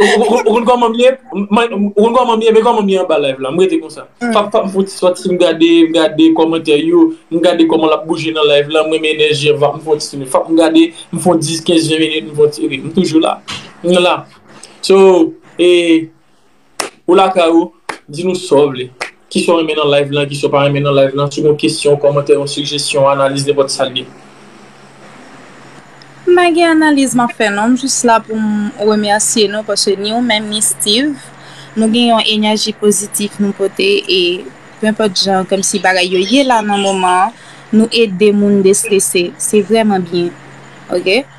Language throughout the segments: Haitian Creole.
Ou konn kòman m ye? Ou konn kòman m ye? Men kòman m ye anba live la. M rete konsa. Pa m fout sòti, m gade, m gade kòmantè yo, m gade kòman l ap bouje nan live la, m renmen enèji an, vap m fon ti sou li. Fòk m gade, m fon 10, 15, 20 minit, m fon ti rete. M toujou la. M la. So, e. Ou lakay ou, di nou sa w vle. Kisa w renmen nan live lan, kisa w pa renmen nan live lan, si w gen yon kesyon, kòmantè, yon sijesyon, analiz, nenpòt sa l ye. M pa gen analiz m ap fè non, m jis la pou m remèsye nou paske ni ou menm ni Steeve nou gen yon enèji pozitif nou pote e pe enpòt jan kòmsi bagay yo ye la nan moman an nou ede moun destrese se vrèman byen ok.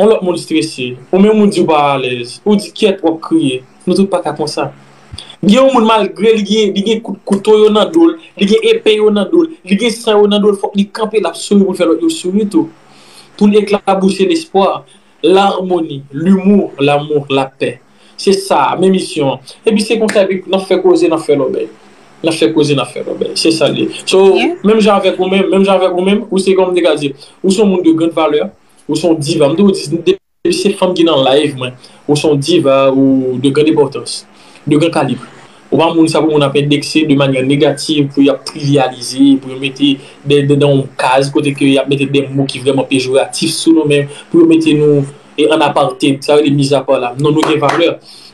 On lòt moun strese, ou menm ou di ou pa alèz, ou di kyèt wap kriye, nou tout paka konsa. Gen yon moun malgre li gen li gen kout kouto yo nan dol, li gen epe yo nan dol, li gen san yo nan dol fòk li kanpe lap souri poul fè lòt yo souri tou. Poul eklabousi lespwa, larmoni, limou, lamou, lapè. Se sa, men misyon an. Epi se konsa epi nap fè koze nap fè lòbèy. Nap fè koze nap fè lòbèy. Se sal ye. So, menm jan avèk ou menm, menm jan avèk ou menm, ou se kòman m te ka di, ou son moun de grand valeur, Ou son diva, m toujou di depi se fanm ki nan live mwen, ou son diva ou de grande importance, de grand calibre. Ou pa moun sa pou moun ap endekse de manyè negativ, pou yap trivialize, pou yo mete de nan yon kaz kote ke yap mete de mo ki vrèman pejoratif sou nou menm, pou yo mete nou en apartheid, sa yo rele mis à part la. Non nou gen valè,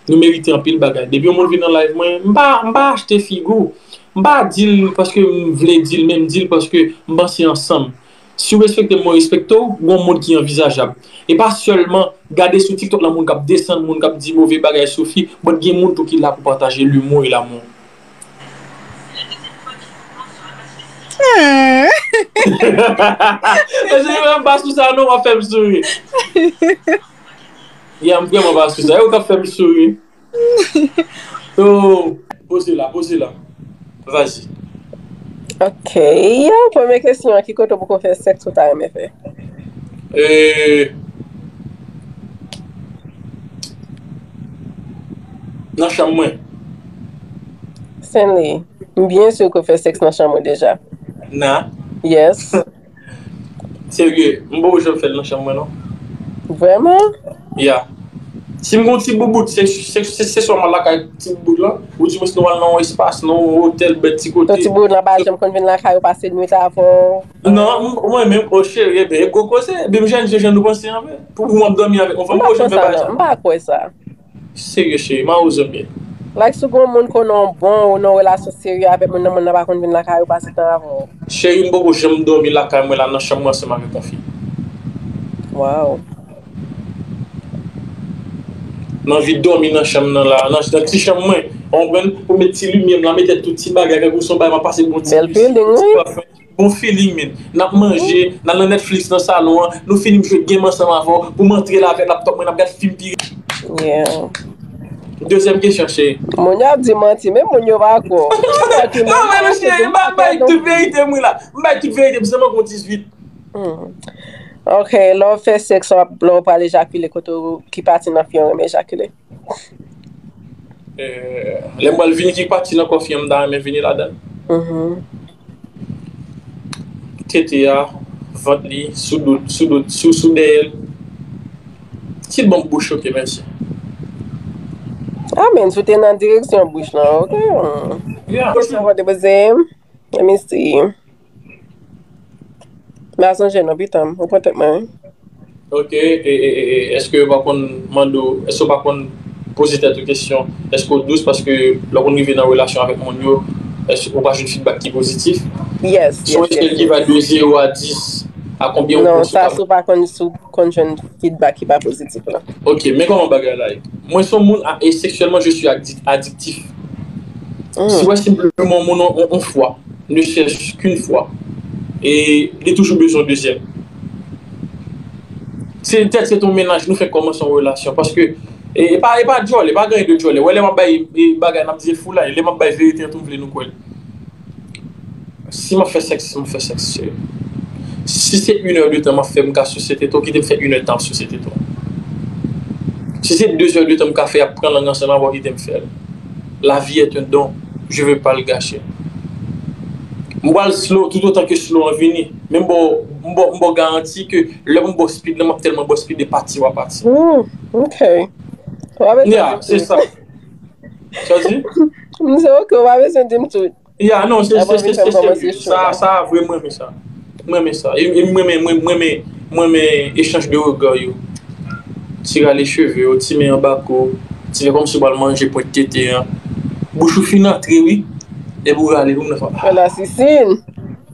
nou merite anpil bagay. Depi yon moun vin nan live mwen, m pa m pa achte figi w, m pa di l paske m vle di l men m di l paske m panse ansanm. Si w respekte m mwen respekte w, gon mond ki anvizajab. E pa sèlman gade sou tiktok la moun kap desann moun kap di move bagay sou fi but gen moun tou ki la pou pataje l'humour et l'amour. Mesye yo m pa sou sa non wap fèm souri. Yeah m vrèman pa sou sa. E ou kap fèm souri. Poze la, poze la Vas-y Ok, premye kesyon an, ki kote ou poko fè sèks ou ta renmen fè? Nan chanm mwen Stanley, m byen sur ke w fè sèks nan chanm ou deja Nan? Yes. Serye, m poko janm fè l nan chanm mwen non. Vreman? Ya. Si m gen yon ti boubout, se swa m al lakay ti boubout lan, ou di m si nou al nan yon espas, nan yon otèl bèt ti kote. Ton ti boubout lan pa janm konn vin lakay ou pase nwit avè w? Non, mwen menm, o cheri e byen, e gwo koze, e byen m jèn fi jan nou panse anfen. Pou m ap dòmi avèk yon fanm, m poko janm fè bagay sa. M pa kwè sa. Serye cheri mawozo m ye. Like sou gon moun konnen w bon ou nan yon relasyon serye avèk moun nan moun nan pa konn vin lakay ou pase tan avè w. Cheri m poko janm domi lakay mwen la nan chanm mwen ansanm avèk yon fi. Waww. M anvi domi nan chanm nan la nan ti chanm mwen ou konprann ou met ti limyè m la mete tout ti bagay tankou son bagay map pase bon ti misik bon ti pafèm. Bon feeling min. Nap manje, nal nan Netflix nan salon an, nou fini m jwe game ansanm avè w, pou m antre la avè laptop mwen nap gad film pi Yeah. Dezyèm kesyon cheri. Moun yo ap di manti men moun yo pa kwè w. Ki sa ki menm? Anmwey non cheri m ap bay tout verite m wi la. M bay tout verite m san manke w 18. Humm ok lè w fè sex wap lè w pral ejakile kote w ki pati nan fi an renmen ejakile? Lè m pral vini ki pati nan kò fi an m ta renmen vini ladan l? Tete a, vant li, sou do l, sou dèyè l. Ki bon pou bouch ok mèsi. Amèn, sou te nan direksyon bouch lan ok. Kisa w te poze m? Let me see. Mè a zanjen non pitan m. Ou pran tèt mwen wi. Ok, e, e, e, e, eske yo pa konn mande w, eske yo pa konn poze tèt ou kesyon, eske w dous paske lè w konn rive nan relasyon avèk moun yo, eske ou pa jwenn fidbak ki pozitif? Yes, yes, yes, yes. Sou yon echèl ki va de 0 a 10, a konbyen ou Non, konn sou sa ka sou pa konn sou konn jwenn fidbak ki pa pozitif la. Ok, men kòman bagay la ye. Mwen son moun a e seksyèlman je suis addi- adiktif. Si wè senpleman moun an on fwa, ne chèch k'un fwa, e li toujou bezwen dezyèm. Se tèt se ton mennaj nou fèk kòmanse on relasyon paske e pa e pa djòlè, pa gen de djòlè. Wè lè m'ap bay bagay m'ap di e foulay, lè m'ap bay verite an tou m'vle nou kwèl. Si map fè sèks map fè sèks se Si se yn è de tan map fè mka sise tete w kitem fè yn è tan ap sise tete w Si se de zè de tan mka fè ap pran lang nan sèl avèw kitem fèl La vie est un don je veux pas le gâcher M pral slow tout otan ke slow an vini men m baw m baw m baw garanti ke lè mwen baw speed lan map tèlman baw speed e pati wap pati Ooh ok Wap etan de pye. Sa w di? M di ok, ou pa bezwen di m tout. Ya, non, se, se, se, se, se, sa, sa a vre, m renmen sa. M renmen sa. E m renmen, m renmen, m renmen echanj de regard yo. Ti rale cheve yo, ti men anba kou, ti fè kòmsi w pral manje pwent tete an. Bouch ou fin antre wi, epi w rale, ou menm nan fè, ah. Fè la sisin.